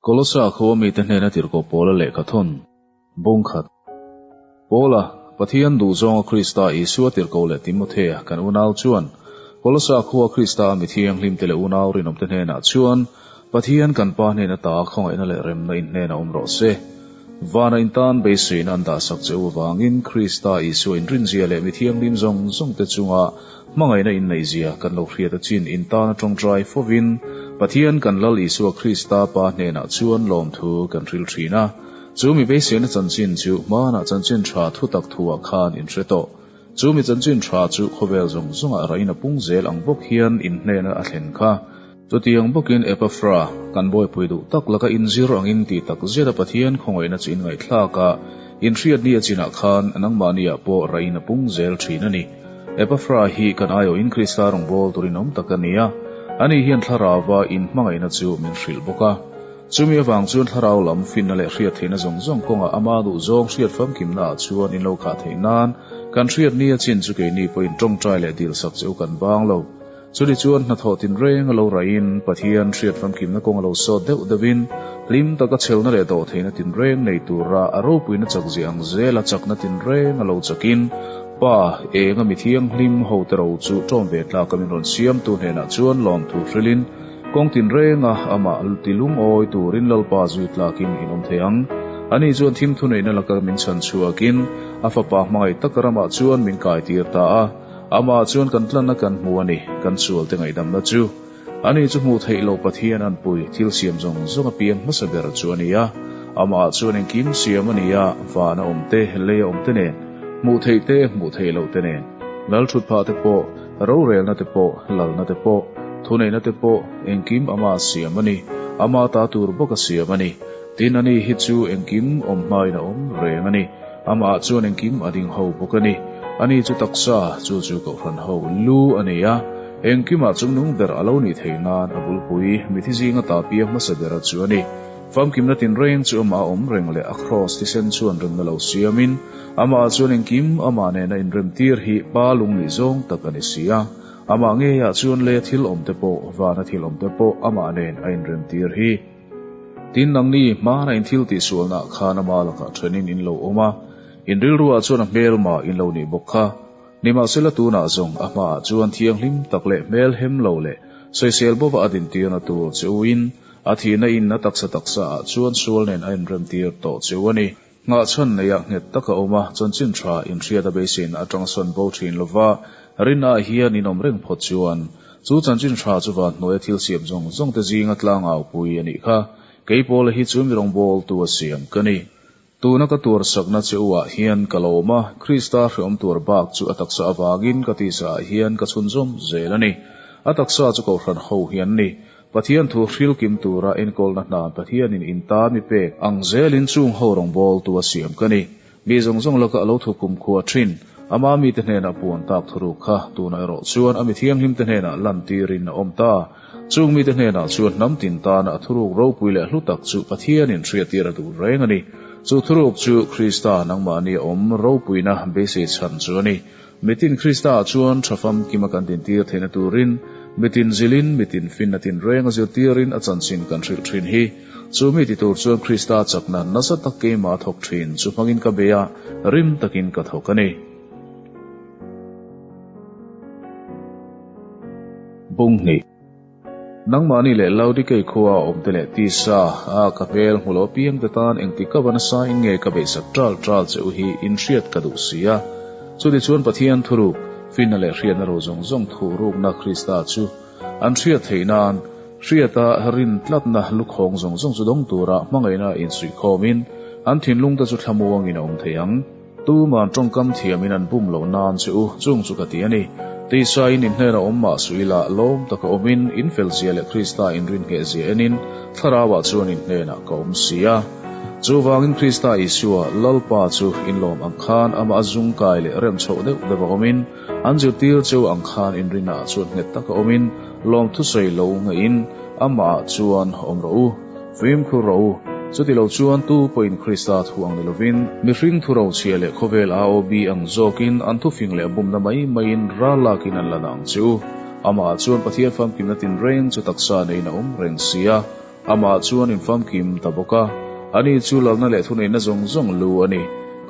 Kolosa khawa mite hnena tirhkoh Paula lehkha thawn bung khat. Paula, Pathian duhzawnga Krista Isua tirhkoh leh Timothea, kan unau chuan, Kolosa khua Krista a mi thianghlimte leh unau rinawmte hnenah chuan, Pathian kan Pa hnena ta khawngaihna leh remna in hnen a awm rawh se. Vana in tan beisuihna an dahsak che u avangin Krista Isua inrinzia leh mi thianghlim zawng zawngte chunga Hmangaihna inneihzia kan lo hriat achin intan atang trai fovin Pathian kan Lal Isua Krista Pa hnenah chuan lawmthu kan hril thin a. Chu mi beiseina chanchin chu hmanah chanchin tha thutak thuah khan in hre tawh. Chu mi chanchin tha chu khawvel zawng zawngah raina pung zel ang bawk hian inhnena a thlen kha. Chutiang bawkin Epafra, kan bawipui duh tak laka inzir angin ti tak zeta Pathian khawngawihna chu inngaithlak a, inhriat ni a chinah khan nangmah nia pawh rain a pung zel thin a ni. Epafra hi kan aiawhin Krista rawngbâwl turin awm tak a nia. Ani hian thlarauva inhmangaihna chu min hrilh bawk a. Chumi avang chuan thlarau lam finna leh hriat theihna zawng zawng kawngah ama duhzawng hriat famkimnaah chuan in lo khah theih nan kan hriat ni a chin chu keini pawhin ṭawngṭai leh dilsak che u kan bâng lo. Chuli chuan hnathawh tinreng a lo raihin Pathian hriat famkimna kawng a lo sawt deuh deuhin hlim taka chhelna leh dawh theihna tinreng nei tura a ropuina chak ziah ang zela chakna tinreng a lo chakin Pa, enga mithianghlim ho te ro chu tawm ve tlak a min rawn siamtu hnenah chuan lawmthu hrilhin kawng tinrenga amah ti lungawi turin Lalpa zui tlakin in awm thei ang. Ani chuan thimthu neihna laka min chhan chhuakin a fapa hmangaih taka ramah chuan min kaitir ta a, Amah chuan kan tlanna kan hmu a ni, kan sualte ngaihdamna chu. Ani chu hmuh theih lo Pathian an pui, thil siam zawng zawng a piang hmasa ber chu a ni a. Amah chuan engkim siam a ni a, van a awm te, lei a awm te nen, hmuh theih te, hmuh theih lo te nen, lal thut phah te pawh, rorelna te pawh, lalna te pawh, thuneihna te pawh, engkim Amah siam a ni, Amah ta tur bawka siam a ni. Tin, Ani hi chu engkim awm hmain a awm reng a ni. Amah chuan engkim a ding ho bawk a ni. Ani chu taksa, chu chu kohhran ho lu a ni a. Engkimah chungnung ber a lo nih theih nan a bulpui mithi zinga tapia hmasa bera chu a ni. Famkimna tinreng chu amah awm reng leh a kraws thisen chuan remna lo siamin, amah chuan engkim amah nena inrem tir hi pa lung nih zawng tak a ni si a. Amah ngeiah chuan leia thil awmte pawh, vana thil awmte pawh amah nen a inrem tir hi. Tin, an ni hmaan a inthil tih sualnaah khan ama lakah thenin in lo awm a, in rilruah chuan a hmelmah in lo nih bawk kha. Nimahsela tunah zawng a hmaah chuan thianghlim tak leh hmelhem lo leh sawisel bova a dintirna tur che uin a thihna inna taksa taksaah chuan sual nen a inremtir tawh che u a ni. Nghahchhan nei ah nghet tak a awm a, chanchin tha inhriat a beisein a tangsawn bo thin lo va, rin ah hian inawm reng phawt chuan. Chu chanchin tha chu van hnuaia thil siam zawng zawng te zing a tlangau pui a nih kha. Kei pawla hi chu mi rawngbâwl tu a siam ka ni. Tuna ka tuarsakna cheu ah hian ka lo awm a, Krista hrehawm tuar bak chu a taksa avangin ka tisa ah hian ka chhun zawm zel a ni. A taksa chu ko hran ho hian a ni. Pathian thu hril kim tura enkawlna hna Pathianin in ta mi pek ang zelin chung ho rawngbâwl tua siam ka ni. Mi zawng zawng laka a lo thu kum khua ṭhin. Ama mite hnenah puan tak thuruk kha tunah erawh chuan a mi thianghlimte hnenah lantîrin a awm ta. Chung mite hnenah chuan hnam tin tâna a thuruk ropui leh hlu tak chu Pathianin hriattîr a duh reng a ni. Chu thuruk chu Krista nangmahni a awm ropuina basic chhan chu a ni. Mitin Krista ah chuan tha fam kima kan tintir theihna turin mitin zilin mitin finna tinreng a zirtirin a chanchin kan hrilh thin hi. Chu mi ti tur chuan Krista chakna nasa tak keima a thawk thin chu hmangin ka be a, rim takin ka thawk a ni. Bunghnih. Nangmahni leh Laodikei khua a awmte leh tisa a ka hmel hmu lo apiang te tan engti ka va nasa in nge ka beisat tal tal che u hi in hriat ka duh si a, chutichuan Pathian thuruk, finna leh hriatna ro zawng zawng thuh rukna Krista chu an hriat theih nan hriata rin tlatna lukhawng zawng zawng chu dawng tura hmangaihna in suihkhawm in an thinlung te chu thlamuang in a awm thei ang. Tuman tawngkam thiamin an bum loh nan che u chung chu ka ti a ni. Teisaiin in hnenah awm mah suih ila lawm taka awmin in felzia leh Krista inrin nghehzia enin Thlaraua chuan in hnenah ka awm si a. Chu vangin Krista Isua Lalpa chu in lawm ang khan amah a zung kai leh rem chhoh deuh deuh a awmin an zirtir cheu ang khan inrinah chuan nghet taka awmin lawm thusawi lo ngeiin amah ah chuan awm rawh u. Fim khur ro u. Chutilo chuan tu pawhin Krista thu ang ni lovin, mihring thu ro chhia leh khawvel aawbi ang zawkin an thufing leh a bumna mai maiin ral lakin an la na ang che u. Amah chuan Pathian famkimna tinreng chu taksa neina awm reng si a, Amah chuan in famkim ta bawk a. Ani chu lalna leh thuneihna zawng zawng lu a ni.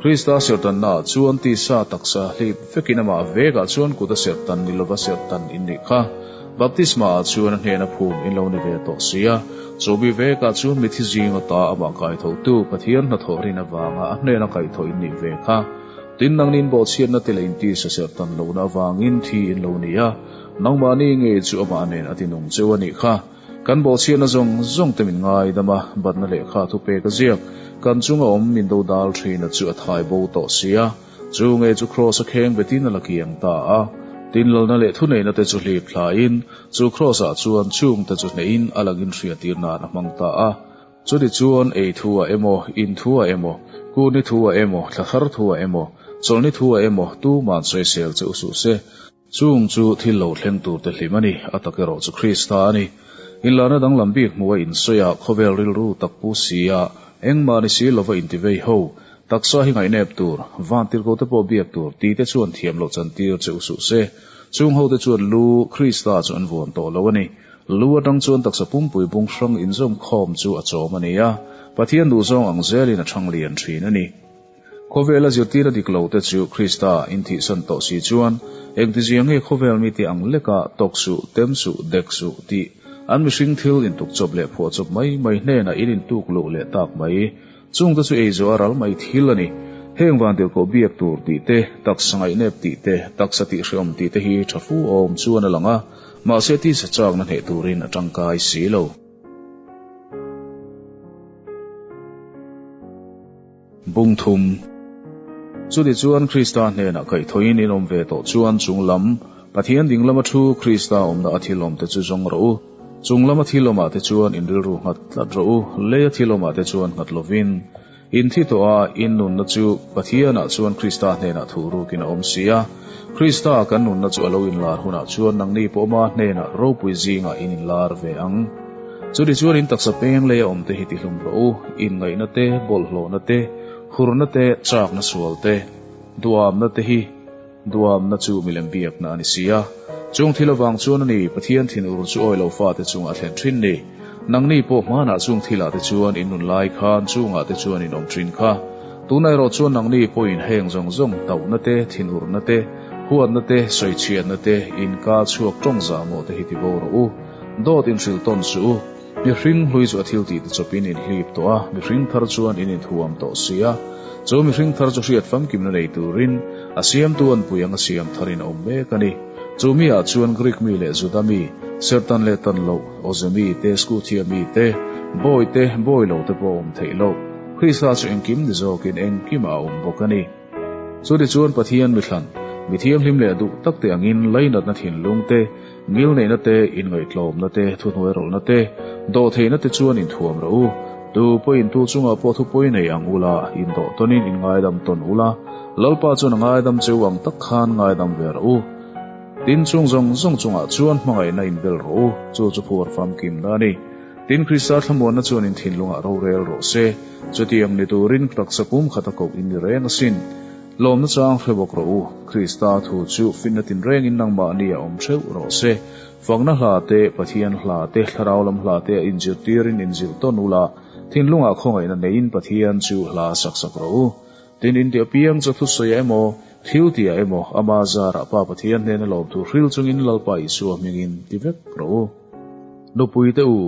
Krista sertanna ah chuan tisa taksa hlip vekin Amah vekah chuan kuta sertan ni lova sertan in nih kha. Baptisma ah chuan a hnehna phum in lo ni ve tawh si a, chu mi vek ah chuan mithi zing ata amah kaitho tu Pathian hnathawh rin avanga a hnehna kaitho in nih ve kha. Tin nang nin bawhchhiat na te la in ti saserh tan lo na avang in thi in lo ni a, nangmah ni ngei chu amah nen a ti nung cheu a nih kha. Kan bawhchhiat na zawng zawng te min ngai dam a, batna lehkha thupek a ziak kan chunga awm min do dal thin a chu a thai bo tawh si a, Chu nge chu Kraws-a kheng betin a la kiang ta a, tinlalna leh thuneihna te chu hlip thlain, chu Kraws-ah chuan chhung te chu hnehin a lang inhriatirnain a hmang ta a. Chuni chuan ei thu-ah emaw, in thu-ah emaw, kuhni thu-ah emaw, thlathar thu-ah emaw, chawlhni thu-ah emaw, tu man sawisel che u suh se. Chung chu thil lo thleng tur te hlim a ni, a tak erawh chu Krista a ni. Inlahna danglam bik hmu a insawi a, khawvel rilru tak pu si a, engmah ni si lo va inti vei ho. Taksa hi ngaihnep tur, vantirhko te pawh biak tur ti te chuan thiam lo chan tir che u suh se. Chung hote chuan lu, Krista chu an vuan tawh lo a ni. Lu atang chuan taksa pumpui bung hrang inzawm khawm chu a chawm a nia. Pathian duhzawng ang zelin a thang lian thin a ni. Khawvela zirtira dik lo te chu Krista inthihsan tawh si chuan engtizia nge khawvel mite ang leka tawk suh, tem suh, dek suh tih an mihring thil intuk chawp leh phuah chawp mai mai hnena in intuk luh leh tak mai. Chungte chu eizaw a ral mai thil a ni. Heng van dirkaw biak tur tih te, taksa ngaihnep tih te, taksa tihhrehawm tih te hi tha fu awm chuan a lang a, mahse tisa chakna hneh turin a tangkai si lo. Bung thum, Chuni chuan Krista hnenah kaihthawin in awm ve tawh chuan chung lam, Pathian ding lama thu, Krista awmna a thilawm te chu zawng rawh u. Chung lama thilawmah te chuan in rilru nghat tlat rawh u, leia thilawmah te chuan nghat lovin. In thi tawh a, in nunna chu Pathianah chuan Krista hnenah thuh rukin a awm si a. Krista kan nunna chu a lo inlar hunah chuan nangni pawh awma hnenah ropui zingah in inlar ve ang. Chutichuan in taksa peng lei a awm te hi tihlum rawh u, inngaihna te, bawlhhlawhna te, hurna te, chakna sual te, duhawmna te hi. Duhawmna chu milem biakna a ni si a, chung thil avang chuan a ni. Pathian thin ur chu awilo fate chungah a thlen thin ni. Nangni pawh hmanah chung thilah te chuan in nun lai khan chungah te chuan in awm thin kha. Tunah erawh chuan nangni pawhin heng zawng zawng tauhna te, thin urna te, huatna te, sawi chhiatna te, inkal chhuak tawng zahmawh te hi ti bo rawh u. Dawt in hrilh tawn si u. Mihring hlui chu a thil tih te chawpin in hlip tawh a, mihring thar chuan in inthuam tawh si a. Chu mihring thar chu hriat famkimna nei turin a siamtu an pui anga siam tharin a awm mek a ni. Chu mi ah chuan Greek mi leh Juda mi, ser tan leh tan loh, awze mi te, Scutia mi te, bawi te, bawi lo te pawh a awm theih loh. Krista chu engkim ni zawkin engkimah a awm bawk a ni. Chu tichuan Pathian mithlan, mi thianghlim leh duh takte angin lainatna thinlung te, ngil neihna te, inngaihtlawmna te, thuhnuai rawlhna te, dawhtheihna te chuan inthuam rawh u. Tu pawhin tu chungah pawh thupui nei ang ula, indawh tawnin inngaidam tawn ula, Lalpa chuan a ngaidam che u ang tak khan ngaidam ve rawh u. Tin chung zawng zawng chungah chuan hmangaihna inbel rawh u, chu chu phur famkimna a ni. Tin, Krista thlamuanna chuan in thinlungah rorel rawh se. Chutiang ni turin taksa pumkhata koh in ni reng asin. Lawmna chang hre bawk rawh u. Krista thu chu finna tinrengin nangmahni a awm theuh rawh se. Fakna hla te, Pathian hla te, thlarau lam hla te a inzirtirin inzirh tawn ula, thinlungah khawngaihna neiin Pathian chu hla saksak rawh u. Tin, inti apiang chu thusawiah emaw, thiltiah emaw ama zarah Pa Pathian hnena lawm tur hril chungin Lalpa Isua hmingin ti vek rawh u. Nupuite u,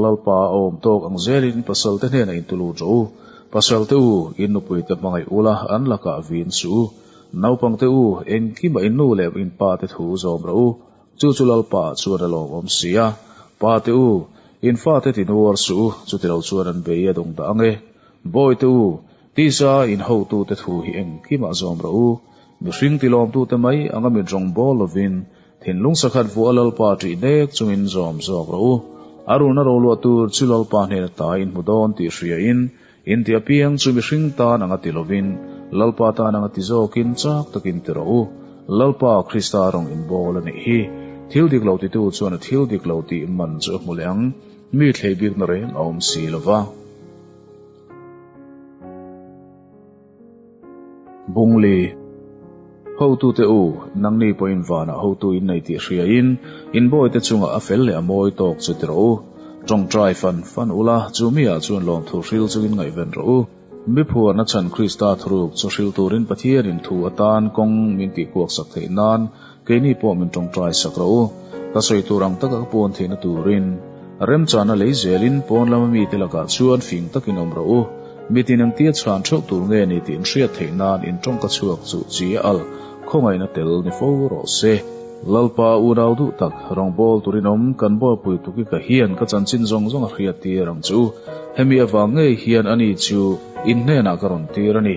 Lalpa a awm tawk ang zelin pasalte hnena intu lut rawh u. Pasalte u, in nupuite hmangaih ula an lakah vin suh u. Naupangte u, engkimah in nu leh in pate thu zawm rawh u. Chu chu Lalpa ah chuan a lawmawm si a. Pate u, in fate tinuar suh u, chutilo chuan an bei a dawngdah ang e. Bawihte u, Tisa inhotute thu hi engkimah zawm rawh u, mihring tilawmtute mai anga mit rawng bawl lovin thinlung sakhat vuah a Lalpa tih dek chungin zawm zawk rawh u. A run a ro luah tur chu Lalpa hnena taa in hmu dawn tih hriain inti apiang chu mihring tan anga ti lovin Lalpa tan anga ti zawkin chak takin ti rawh u. Lalpa Krista rawn inbawl anih hi thil dik lo titu chuan a thil dik lo tih man chu a hmu leh ang, mi thleibikna reng a awm si lova. Bungli, Hotu te u, nangni pawhin vanah hotu in nei tih hria in, in bawi te chungah a fel leh a mawi tawk chu ti rawh u. Tawng try fan fan u la, chu mi ah chuan lawmthu hril chu in ngaihven rawh u. Miphuarna chhan Krista thuruk chu hrilturin Pathianin thu atan kawng min tihkuaksak theih nan, Keini pawh min tawngtai sak rawh u, ka sawi tur ang taka ka pawn theihna turin remchana lei zelin pawn lama mite lakah chuan fing takin awm rawh u, mitin engtia chhan theuh tur nge ni tih in hriat theih nan in tawng ka chhuak chuh chi a al khawngaihna tel ni fo rawh se. Lalpa unau duh tak, rawngbawl turin awm kan buaipui tuki ka hian ka chanchin zawng zawng a hriat tir ang chu, hemi avang ngei hian ani chu in hnenah ka rawn tir a ni.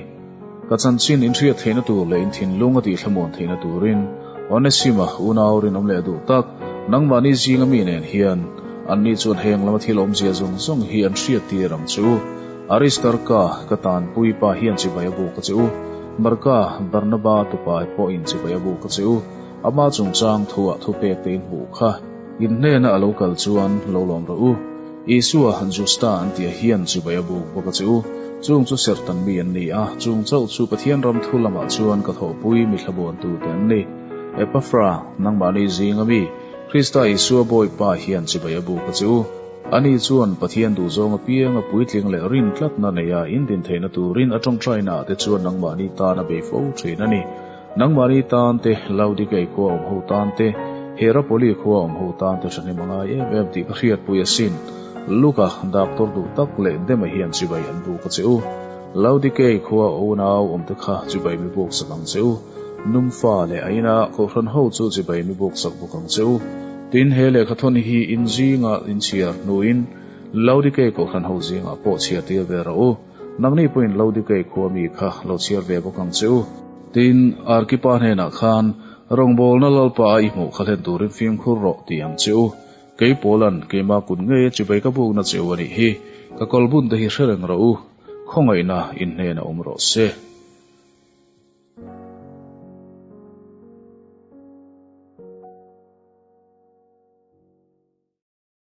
Ka chanchin inhriat theihna tur leh inthinlung a tihthlamun theihna turin Onesima unau rinawm leh duh tak nangmahni zinga mi nen hian anni chuan heng lama thil awmzia zawng zawng hi an hriat tir ang che u. Aristarka, ka tanpui pa hian chibai a buk ka che u. Marka, Barnaba tupa hi pawhin chibai a buk ka che u. Ama chungchang thuah thupek te in hmuh kha. In hnena a lo kal chuan, Lo lawm rawh u. Isua han Jews ta an tia hian chubai a buk bawk a che u. Chung chu Sertan mi an ni a, chung chauh chu Pathian ram thu lamah chuan ka thawhpui mi thlabuantute an ni. Epafra, nangmahni zinga mi, Krista Isua Bawipa hian chubai a buk a che u. Ani chuan Pathian duh zawng apianga puitling leh rin tlatna neia indin theihna turin a tawngtaina ah te chuan nangmahni tan a bei fo thin a ni. Nangmahni tan te, Laodikei khua awm ho tan te, Hierapoli khua awm ho tan te thahnem a ngai em em tih ka hriatpui asin. Luka, daktor duh tak leh dema hian chibai an buk a che u. Laodikei khua unau awmte kha chibai mi buk sak ang che u. Numfa leh a ina kohhran ho chu chibai mi buk sak bawk ang che u. Tin, he lehkha thawn hi in zingah in chhiar hnuin Laodikei kohhran ho zingah pawh chhiartir ve rah u. Nang ni pawhin Laodikei khua mi kha lo chhiar ve bawk ang che u. Tin, Arkipa hnenah khan, Rawngbawlna Lalpa a i hmuh kha hlen turin fimkhur rawh ti ang che u. Kei Paula'n keimah kut ngei a chibai ka bukna che u a nih hi. Ka kawlbun te hi hrereng rawh u. Khawngaihna in hnenah awm rawh se.